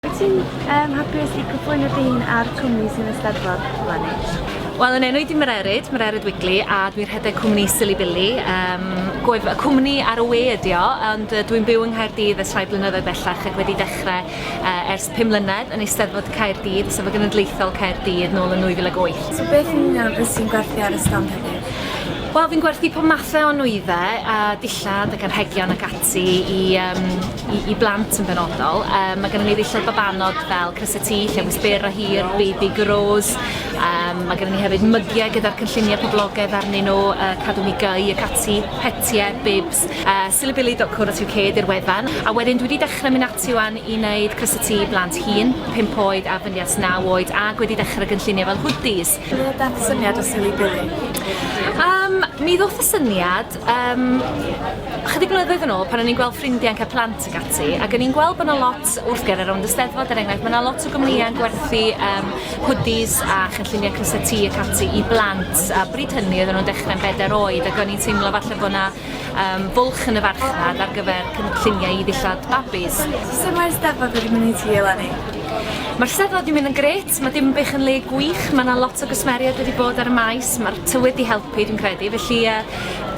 Wyt ti'n um, hapus i cyflwyno dy hun a'r cwmni sy'n Eisteddfod Llanid? Wel, yn enw i di Mererid, Mererid Wigley, a dwi'n rhedeg cwmni Silly Billy. Um, gwef, y cwmni ar y we ydi o, ond uh, dwi'n byw yng Nghaerdydd ers rhai blynyddoedd bellach ac wedi dechrau uh, ers 5 mlynedd yn eisteddfod Caerdydd, sef y genedlaethol Caerdydd, nôl yn 2008. So beth yn union ys ti'n gwerthu ar y stand heddiw? Wel, fi'n gwerthu pob mathau o nwyddau, a dillad ac anrhegion ac ati. ati i, um, i, i blant yn benodol. Um, mae gennym ni ddillad babanod fel crysau tŷ, llewys byr a hir, baby grows. Um, mae gennym ni hefyd mygiau gyda'r cynlluniau poblogaidd arnyn nhw, uh, cadw ni gau ac ati, petiau, bibs, uh, silibili.co.uk di'r wefan. A wedyn dwi wedi dechrau mynd ati wan i wneud crysau tŷ blant hun, 5 oed a fyny at 9 oed, ac wedi dechrau gynlluniau fel hoodies. Beth syniad o silibili? Um, mi ddoth y syniad Um, chydig blynyddoedd yn ôl, pan o'n i'n gweld ffrindiau'n cael plant ag ati, ac o'n i'n gweld bod yna lot wrth ger ar ond y steddfod, er enghraifft, mae yna lot o gwmnïau'n gwerthu um, hoodies a chynlluniau crysau tŷ ac ati i blant, a bryd hynny oedden nhw'n dechrau'n bedair oed, ac o'n i'n teimlo falle bod yna um, bwlch yn y farchnad ar gyfer cynlluniau i ddillad babis. Sut mae'r steddfod wedi mynd i ti, Eleni? Mae'r steddfod wedi mynd yn gret, mae dim bych yn le gwych, mae yna lot o gwsmeriaid wedi bod ar y maes, mae'r tywydd wedi helpu Pwy dwi'n credu, felly yy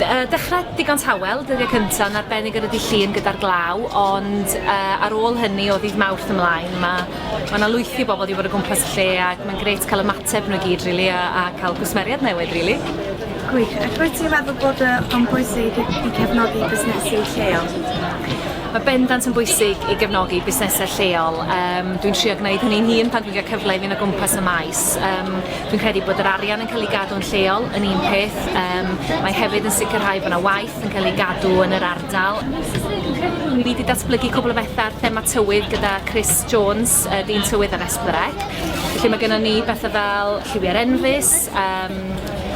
yy dechra digon tawel, dyddiau cynta yn arbennig ar y dydd Llun gyda'r glaw, ond yy ar ôl hynny o ddydd Mawrth ymlaen ma' ma' 'na lwythi o bobl 'di bod o gwmpas y lle ac mae'n grêt cael ymateb nhw i gyd rili a a cael gwsmeriaid newydd rili. Gwych, ac rwyt ti'n meddwl bod yy o'n bwysig i cefnogi busnesu lleol? Mae bendant yn bwysig i gefnogi busnesau lleol, yym dwi'n trio gwneud hynny'n hun pan dwi'n cael cyfle i fynd o gwmpas y maes, yym Dwi'n credu bod yr arian yn cael ei gadw yn lleol yn un peth. Um, mae hefyd yn sicrhau bod yna waith yn cael ei gadw yn yr ardal. Ni wedi datblygu cwbl o bethau ar thema tywydd gyda Chris Jones, uh, dyn tywydd ar Esbyrec. Felly mae gennym ni bethau fel lliwiau'r enfus, um,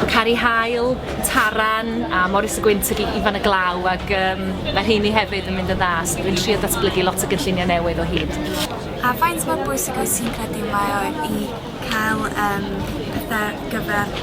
Cari Hael, Taran a Morris y Gwynt ag Ifan y Glaw ac um, mae rheini hefyd yn mynd yn dda, so dwi'n trio datblygu lot o gynlluniau newydd o hyd. A faint mor bwysig oes ti'n credu mae o i cael yym pethe gyfer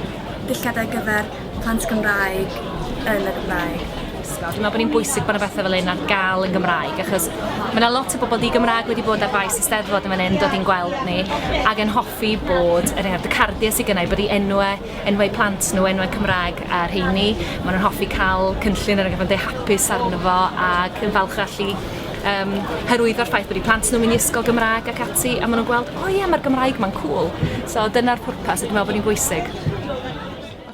dulliade ar gyfer plant Gymraeg yn y Gymraeg. Ysgol. Dwi'n meddwl bod hi'n bwysig bod yna bethau fel un ar gael yn Gymraeg, achos mae yna lot o bobl di Gymraeg wedi bod ar faes y steddfod yn fan hyn, dod i'n gweld ni, ac yn hoffi bod, er enghraifft, y cardiau sydd gynnau, bod i enwau enwau plant nhw, enwau Cymraeg a rheini. Maen nhw'n hoffi cael cynllun ar y gyfan deu hapus arno fo ac yn falch allu um, hyrwyddo'r ffaith bod i plant nhw'n mynd i ysgol Gymraeg ac ati a maen nhw'n gweld, o oh, ie, yeah, mae'r Gymraeg ma'n cool. So dyna'r pwrpas a dwi'n meddwl bod ni'n bwysig.